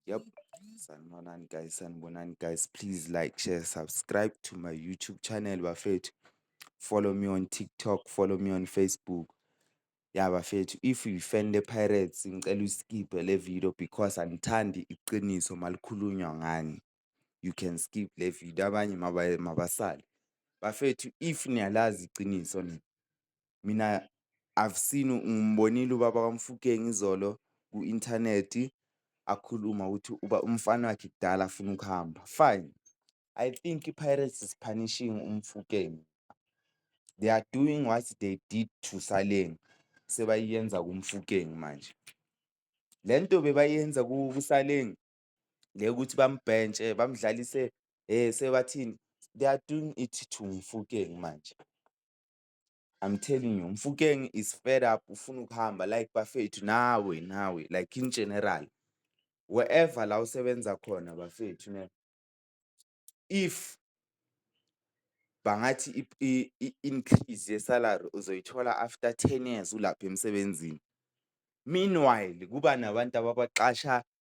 Yep. Sanibonani guys, sanibonani guys. Please like, share, subscribe to my YouTube channel bafethu. Follow me on TikTok, follow me on Facebook. Ya bafethu, if you fan the Pirates ngicela uskiphe le video because angithandi iqiniso malikhulunywa ngani. you can skip le video abanye mabasale. Bafethu if niyalazi iqiniso nina, mina I've seen ngimbonile ubaba kaMofokeng izolo ku-inthanethi akhuluma ukuthi uba umfana wakhe kudala afuna ukuhamba. Fine, I think iPirates is punishing uMofokeng. They are doing what they did to Saleng sebayenza kuMofokeng manje. Le nto bebayenza kuSaleng le ukuthi bambhentshe bamdlalise eh sebathini they are doing it to Mfukeng manje I'm telling you Mfukeng is fed up ufuna ukuhamba like bafethu nawe nawe like in general wherever la usebenza khona bafethu ne if bangathi i-increase yesalary uzoyithola after 10 years ulapha emsebenzini meanwhile kuba nabantu ababaxasha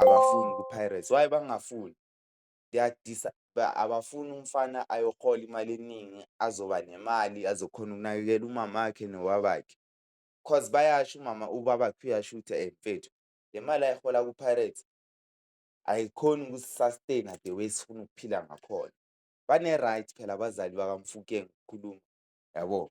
abafuni kwiPirates. Why bangafuni? Abafuni umfana ayohola imali eningi azoba nemali azokhona ukunakekela umamakhe nobabakhe cause bayasho umama ubabakhe uyasho ukuthi ayi mfethu le mali ayihola kwiPirates ayikhoni ukusi-sustain-a the way esifuna ukuphila ngakhona. Bane-right phela abazali bakaMofokeng ukukhuluma, yabo.